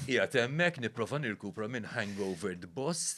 Ija temmek niprofa nirkupra minn hangover d-boss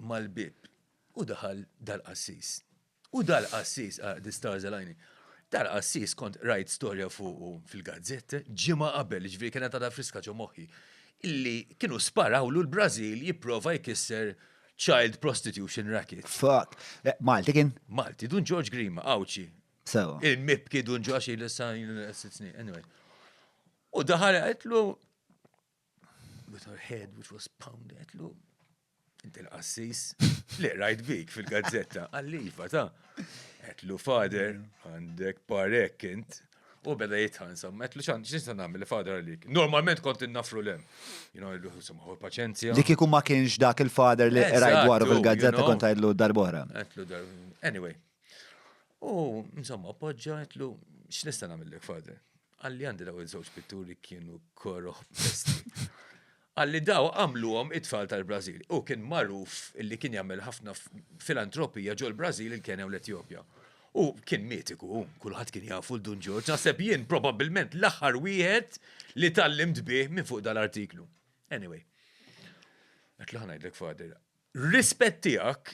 mal-bib. U daħal dal-qassis. U dal-qassis, ah, di stars alajni. Dal-qassis kont rajt storja fuqu fil-gazzetta, ġimma qabel, ġviri kena ta' friska ġo moħi, illi kienu sparawlu l-Brazil jiprofa jkisser child prostitution racket. Fuck. Eh, Malti kien? Malti, dun George Grima, għawċi, Sewa. Il-mib kidu nġuħax il-sajn l-sitzni, anyway. U daħal għetlu, with her head which was pounded, għetlu, inti l-qassis, li rajt bik fil-gazzetta, għalliva ta' għetlu fader, għandek parek int, u beda jitħan, sam, għetlu xan, xinsa namil fader għalik. Normalment kont innafru l-em. You know, għallu, sam, għu paċenzja. Li kiku ma kienx dak il-fader li rajt dwaru fil-gazzetta kont għedlu darbora. Għetlu darbora. Anyway, U, insomma, appoġġa għetlu, x'nista' nagħmillek, Father? Għalli għandi daw il-żewġ pitturi kienu koroħ Għalli daw għamluhom it-tfal tal-Brażil. U kien magħruf li kien jagħmel ħafna filantropija ġol brażil il-Kenja u l-Etjopja. U kien mitiku, kulħadd kien jafu l-Dun Ġorġ, naħseb jien probabbilment l-aħħar wieħed li tallimt bih minn fuq dal-artiklu. Anyway, għetlu ħanajdlek, Father, rispett tiegħek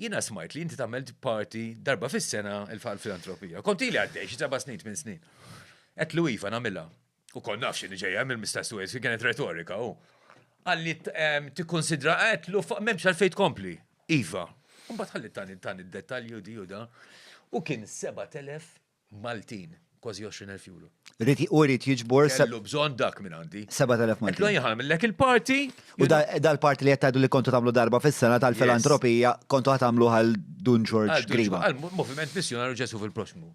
Jiena smajt li inti tagħmel parti darba fis-sena il-filantropija. Kont ili għaddej xi seba' snin minn snin. Qed lu iva nagħmilha. U kont naf x'inhi ġejja mill-Mistess Wales li kienet retorika u għalli ehm, tikkonsidra qed lu m'hemmx għalfejn tkompli. Iva. Imbagħad ħalli tani tani d-dettalji u di u da. U kien 7000 Maltin, kważi 20,000 euro. Rid hu jrid jiġbor. Kellu bżonn dak minn għandi. 7,000 Maltin. Qedlu jħallmillek il-party. U dal-party li qed tgħidu li kontu tagħmlu darba fis-sena tal-filantropija kontu ħa tagħmlu għal Dun Ġorġ Grima. Għall-Moviment Missjunarju Ġesù fil-Proxxmu.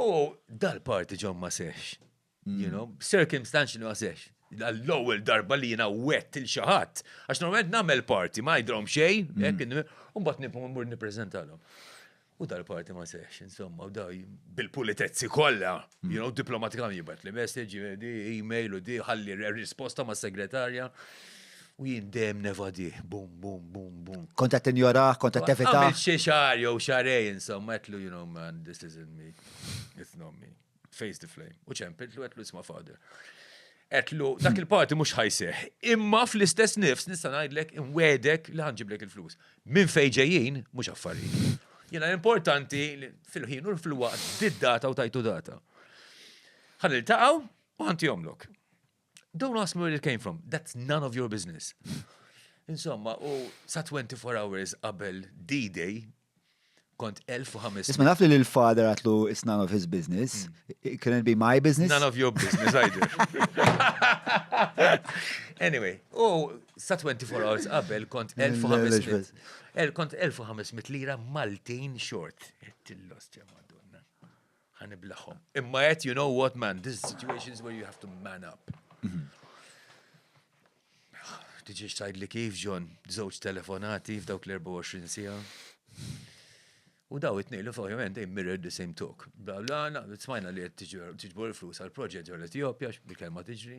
U dal-party ġo ma seħħx. you know, circumstantial għasex. L-ewwel darba li jiena wett il xaħat, għax normalment nagħmel parti, ma jidrom xejn, mm. u mbagħad nibqgħu mmur nippreżentalhom. U dal-parti ma sex, insomma, u daj bil-pulitezzi kollha, mm. you know, diplomatikam jibat li message, di email u di ħalli risposta ma' segretarja. U jien dem nevadi, bum, bum, bum, bum. Konta t-injora, konta t-tevita. Għamil xie xar, jow xarej, insomma, etlu, you know, man, this isn't me. It's not me. face the flame. U ċempiltlu għetlu isma father. Għetlu, dak il-parti mux ħajseħ. Imma fl-istess nifs nista najdlek imwedek li ħanġiblek il-flus. Minn fejġejjien mux affarijiet. Jena importanti fil-ħin u fil-waqt did-data u tajtu data. Għan il-taqaw u għanti jomlok. Don't ask me where it came from, that's none of your business. Insomma, u sa 24 hours qabel D-Day, kont 1500. Isma naf li l-father għatlu it's none of his business, it couldn't be my business. None of your business, either. anyway, u sa 24 hours qabel kont 1500. Kont 1500 lira Maltin short. Tillost, ja madonna. Ħa niblaħhom. Imma qed you know what man, this is situations where you have to man up. Mhm. Tiġiex tajd li kif ġon, żewġ telefonati f'dawk l-24 sija. U daw it nejlu fuq jomend, they mirrored the same talk. Bla bla, na, smajna li qed tiġbor il-flus għal-proġett ġol Etjopja, bil-kelma tiġri.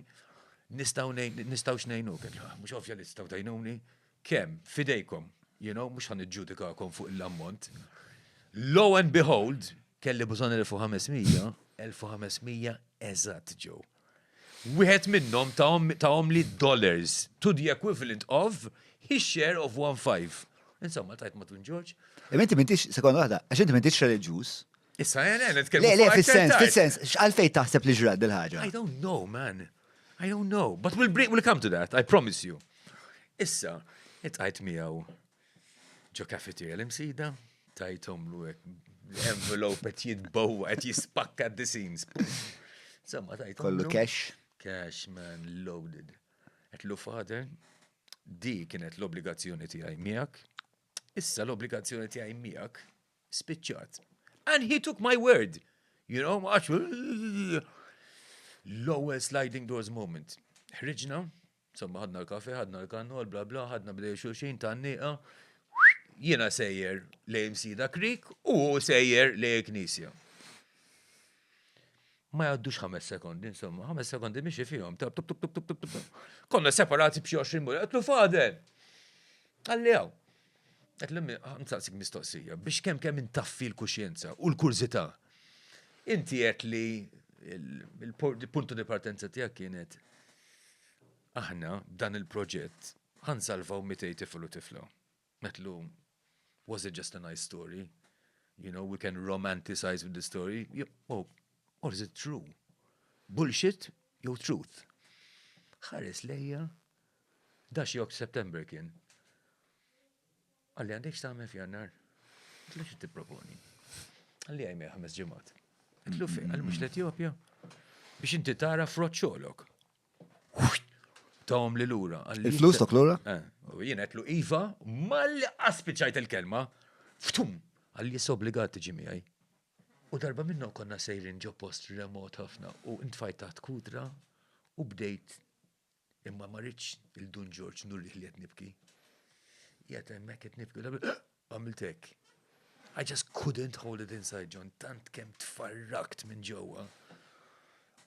Nistaw nejnu, kien mhux ovvja li tistaw tajnuni, Kemm, f'idejkom, you know, mhux ħa niġġudikakom fuq il-ammont. Lo and behold, kelli bżonn 1500, 1500 eżatt ġew. Wieħed minnhom tahom li dollars to the equivalent of his share of one five. Insomma, tajt ma' Tun Ġorġ. Imma inti m'intix, sekonda waħda, għax inti m'intix reliġjuż, Issa, eh, le, nitkellmu. Le, le, fil-sens, fil-sens, x'għalfej taħseb li ġrat dil-ħaġa? I don't know, man. I don't know. But we'll, bring, we'll come to that, I promise you. Issa, it-għajt miegħu ġo kafeterja l-imsida, tajtom lu envelope qed jitbowa qed jispakka the scenes. Insomma, tajtom. Kollu cash. Cash, man, loaded. Qed lu father, di kienet l-obbligazzjoni tiegħi miegħek. Issa l-obbligazzjoni tiegħi miegħek Spiċċat. And he took my word. You know, għax l-ewwel sliding doors moment. Ħriġna, somma ħadna l-kafe, ħadna l-kannol, bla bla, ħadna bdej xulxin ta' niqa. Jiena sejjer lejn sida krik u sejjer lejn knisja. Ma jaddux ħames sekondi, insomma, ħames sekondi biex fihom. Konna separati b'xi 20 mur, għatlu fadel. Għalli għaw. Qed l-immi, nsaqsik mistoqsija, biex kemm kemm intaffi l-kuxjenza u l-kurżità. Inti qed li il-puntu di partenza tiegħek kienet aħna dan il-proġett ħansalvaw 200 tifel u tifla. Metlu, was it just a nice story? You know, we can romanticize with the story. Oh, or is it true? Bullshit, jew truth? ħares lejja Dak xi September kien. Qalli għandek x'tagħmel f'Jannar? Għedtlu xi tipproponi? Qalli għajmej ħames ġimgħat. Għedtlu fejn? Qalli mhux l-Etjopja? Biex inti tara frott xogħlok. Tawhom li lura. Il-flus tok lura? Eh, u jien għedtlu iva, malli qaspiċajt il-kelma. Ftum! Qalli jissa obbligat tiġi miegħi. U darba minnhom konna sejrin ġo post remot ħafna u ntfajt taħt kudra u bdejt Imma ma ridtx lil Dun Ġorġ nurih li qed nibki. Qiegħed hemmhekk qed nibki u għamilt hekk. I just couldn't hold it inside, John, tant kemm tfarrakt minn ġewwa.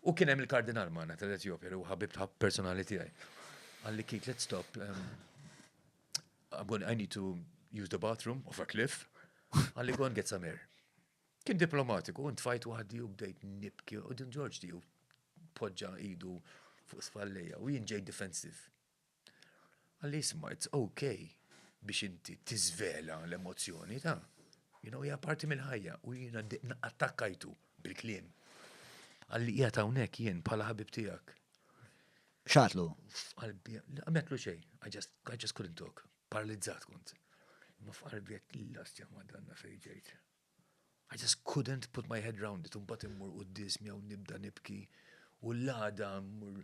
U kien hemm il-kardinal magħna tal-Etjopja li ħabib ta' personali tiegħi. Għalli kit, let's stop. Um, I'm going, I need to use the bathroom of a cliff. Għalli go and get some air. Kien diplomatiku, un tfajt waħdi u bdejt nibki u din George di poġġa idu fuq spallejja u jien ġejt defensive. Qalli isma' it's okay biex inti tiżvela l-emozzjoni ta' you know hija parti mill-ħajja u jiena attakkajtu bil-kliem. Qalli qiegħed hawnhekk jien bħala ħabib tiegħek. Xatlu? F'qalbi, għametlu xej, I just, I just couldn't talk, paralizzat kont. Ma f'qalbi għet l-lastja ma danna fejġejt. I just couldn't put my head round it, imbagħad immur quddies miegħu nibda nibki u l-għada mmur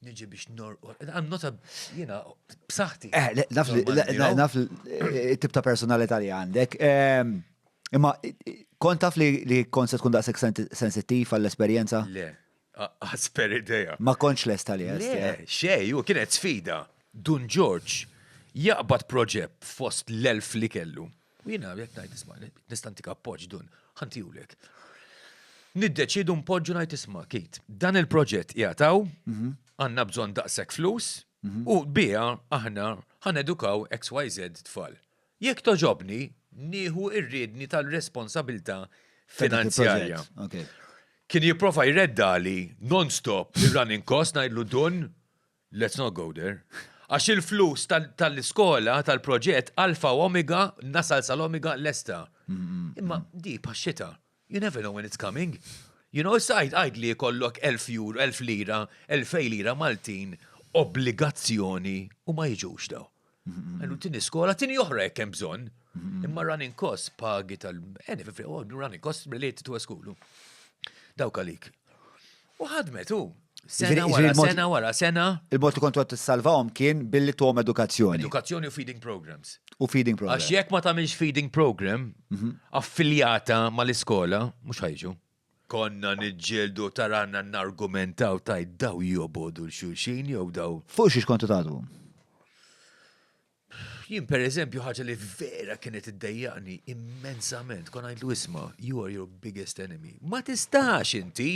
niġi biex norqod. I'm not a, jina, b'saħti. Eh, naf li, naf eh, tip ta' personalità li għandek. Ehm, imma kont taf li kont se tkun daqsek sensittiv għall-esperjenza? Le, Asper idea. Ma kontx lesta li għedt. Le, xej, u kienet sfida. Dun Ġorġ jaqbad proġett fost l-elf li kellu. U jiena qed ngħid isma' nistantik appoġġ dun, ħantijulek. Niddeċidu npoġġu ngħid isma' kit. Dan il-proġett jagħtaw, mhm. għandna bżonn daqshekk flus, mhm. u biha aħna ħanedukaw XYZ tfal. Jekk togħġobni, nieħu r-riedni tal-responsabilità finanzjarja. Kien jipprova jreddali non-stop ir-running cost ngħidlu Dun, let's not go there. Għax il-flus tal-iskola, tal-proġett, alfa u omega, nasal sal-omega lesta. Imma di bħax-xita. You never know when it's coming. You know, issa għid li jkollok 1000 jur, 1000 lira, 2000 lira Maltin obbligazzjoni u ma jiġux daw. Għallu tini skola, tini oħra jek hemm bżonn. Imma running cost pagi tal-eni, oh, running cost related to a school. Dawk għalik. U ħadmet u. Sena wara, sena wara, sena. Il-mod li kontu għat salvawhom kien billi tuħom edukazzjoni. Edukazzjoni u feeding programs. U feeding programs. Għax jekk ma tagħmilx feeding program, mhm. affiljata mal-iskola, mhux ħajġu. Konna niġġieldu taranna n-argumentaw taj daw jobodu l-xulxin jew daw. Fuq xiex kontu tagħdu? Jien per eżempju ħaġa li vera kienet iddejjaqni immensament, kon għajdu isma, you are your biggest enemy. Ma tistax inti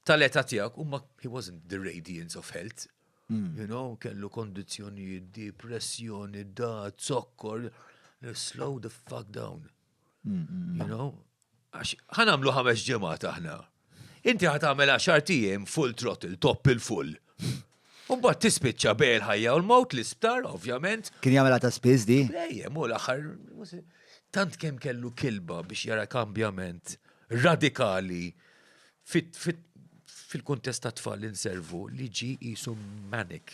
tal-età tiegħek u ma he wasn't the radiance of health. Hmm. You know, kellu kondizjoni, depressjoni, da, zokkor, slow the fuck down. Hmm, hmm, you know, Għax ħa nagħmlu ħames ġimgħat aħna. Inti ħa tagħmel għaxart ijiem full throttle, top il-full. U mbagħad tispiċċa bejn il-ħajja u l-mewt l-isptar, ovvjament. Kien jagħmilha ta' spiss di? Lejjem, u l-aħħar. Tant kemm kellu kilba biex jara kambjament radikali fil-kuntest ta' tfal li nservu li ġi jisu manic.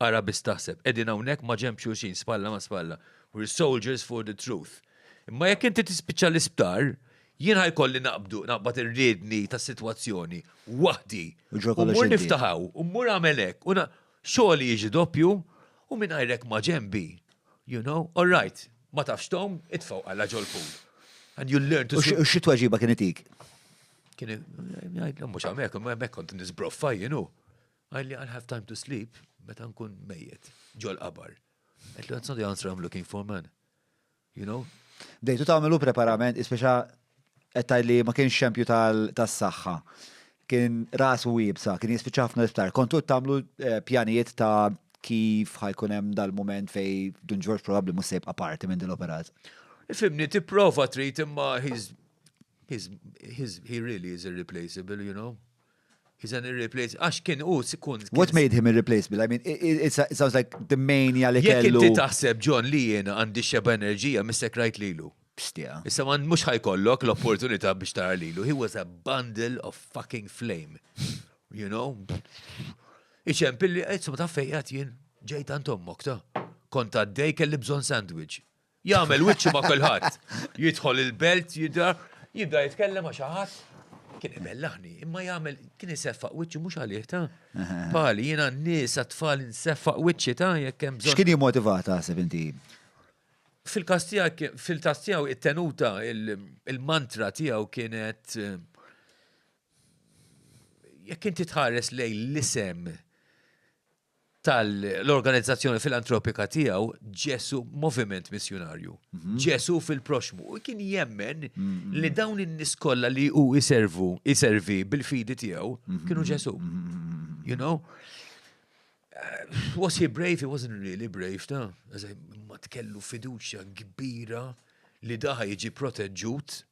Ara biss taħseb, qegħdin hawnhekk maġenb xulxin, spalla ma' spalla. We're soldiers for the truth. Imma jekk inti tispiċċa l-isptar, jien ħa jkolli naqbdu, naqbad ir-riedni tas-sitwazzjoni, waħdi. U mmur niftaħ hawn, u mmur agħmel hekk, u xogħli jiġi doppju, u mingħajrek maġenbi. You know, all right, ma tafx tgħum, itfgħu qalla ġol-pool. And you learn to swim. U xi tweġiba kien itik? Kien jgħid, mhux hawnhekk, hemmhekk kont nisbroffa, you know. Għal li għal have time to sleep, meta nkun mejjet, ġol qabar. Għet li that's not the answer I'm looking for, man. You know? Bdejtu tagħmlu preparament, ispeċa qed li ma kienx xempju tas-saħħa. Kien ras u wibsa, kien jispiċċa ħafna isptar. Kontu tagħmlu eh, pjanijiet ta' kif ħajkun hemm dal-moment fej Dun Ġorġ probabbli mhux sejb aparti minn din l-operat. Fimni, tipprova trid imma he really is irreplaceable, you know? He's an irreplaceable. Għax kien u kun. What made him irreplaceable? I mean, it, sounds like the mania li kellu. Jek inti taħseb John li jena għandi xeba enerġija mistek rajt lilu. Pstija. Issa man mux ħajkollok l-opportunità biex tara lilu. He was a bundle of fucking flame. You know? Iċem pilli, għedsum ta' fejjat jien, ġejt għant ommok ta' kont għaddej kelli bżon sandwich. Jagħmel wiċċu ma' kulħadd. Jidħol il-belt, jidher, jibda jitkellem ma' xi ħadd. Kien ibellaħni, imma jagħmel kien iseffaq wiċċu mhux għalih ta'. Pali, jiena n-nies għat-tfal inseffaq wiċċi ta' jekk hemm bżonn. X'kien jimmotivat taħseb inti? Fil-każ tiegħek, fil-każ tiegħu it-tenuta, il-mantra tiegħu kienet eh, jekk inti tħares lejn l-isem tal-organizzazzjoni filantropika tiegħu Ġesu Moviment Missjunarju. Mhm. Ġesu fil-proxmu. U kien jemmen mhm. li dawn in-nies kollha li hu iservu, iservi bil-fidi tiegħu mhm. kienu Ġesu. You know? Uh, was he brave? He wasn't really brave, ta? Ma tkellu fiduċja kbira li daħa jiġi proteġġut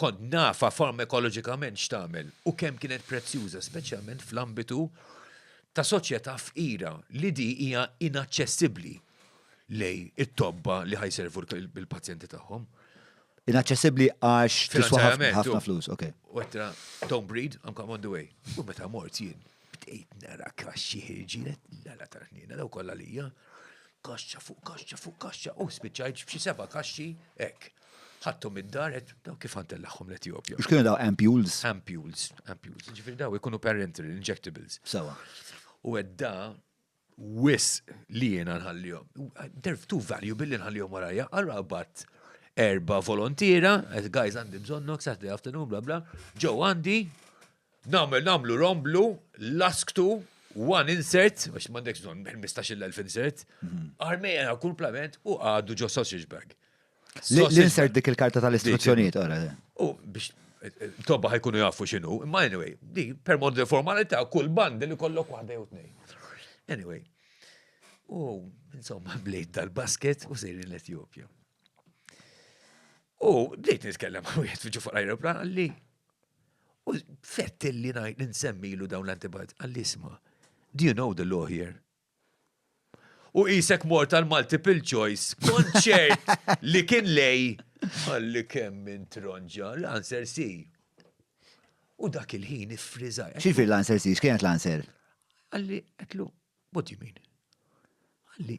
kont nafa farmakoloġikament x'tagħmel u kemm kienet prezzjuża, speċjalment fl-ambitu ta' soċjetà fqira li di hija inaċċessibbli lej it-tobba li ħajservu l-pazjenti tagħhom. Inaċċessibbli għax tiswa ħafna flus, ok. Wettra, don't breed, I'm come on the way. U meta mort jien, Bdejt nara kaxxi ħirġielet, nara tal-ħniena daw kollha lija, kaxxa fuq kaxxa fuq kaxxa, u spiċċajt b'xi seba' kaxxi hekk. Ħadthom id-dar qed daw kif ħantellaħħom l-Etjopja. Mhux kienu daw ampules? Ampules, ampules. Ġifieri daw ikunu parenteral injectables. Sewa. U għedda wisq li jiena nħallihom. They're too valuable li nħallihom warajja. Allura qabadt erba volontira, guys għandi bżonnok, Saturday afternoon, bla bla, ġew għandi, namel namlu romblu, lasktu, one insert, għax mandek bżonn 15.000 insert, mhm. armejja kull plament u għadu ġo sausage bag. L-insert dik il-karta tal-istruzzjonijiet, ora. U biex tobba ħajkunu jafu xinu, imma anyway, di per mod li formalita kull bandi li kollok waħda jew tnej. Anyway, u insomma blejt dal-basket u sejri l-Etjopja. U bdejt nitkellem għu jgħet fiġu fuq l-aeroplan għalli. U fett li najt ninsemmilu dawn l-antibiotics għalli isma. Do you know the law here? U qisek mort għal multiple choice, kont ċert li kien lej. Għalli kemm minn tronġa, l-answer si. U dak il-ħin iffriżaj. Xifir l-answer si, x'kienet l-answer? Għalli, għetlu, what do you mean? Għalli,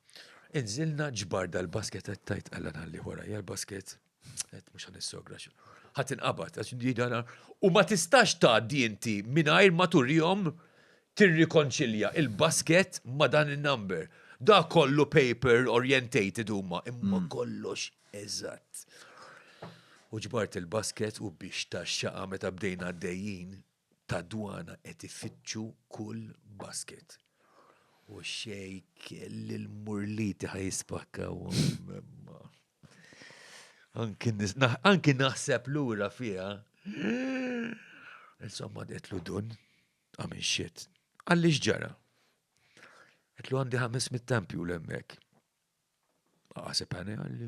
Inżilna ġbar dal-basket qed tajt għalla nalli wara hija l-basket qed mhux għan nissogra ħadd inqabad għax didana u ma tistax tgħaddi inti mingħajr ma turihom tirrikonċilja il-basket ma dan in-number. Da kollu paper orientated huma imma mm. kollox eżatt. U ġbart il-basket u biex taxxaqa meta bdejna għaddejjin tad-dwana qed ifittxu kull basket. U xejn kelli l-murliti ħa jispakkawhom imma. Anki naħseb lura fiha. Insomma qedlu dun, I'm in shit. Qalli x'ġara? Qedlu għandi ħames mit-tempju l-hemmhekk. Aqaseb għani għalli.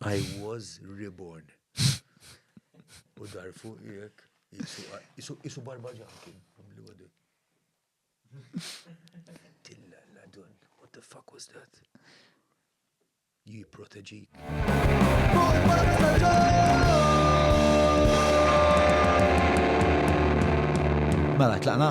I was reborn. U dar fuq jek, jisu barba ġankin, għamli għadu. Tilla la dun, what the fuck was that? Ji proteġik. Mela, tlaqna?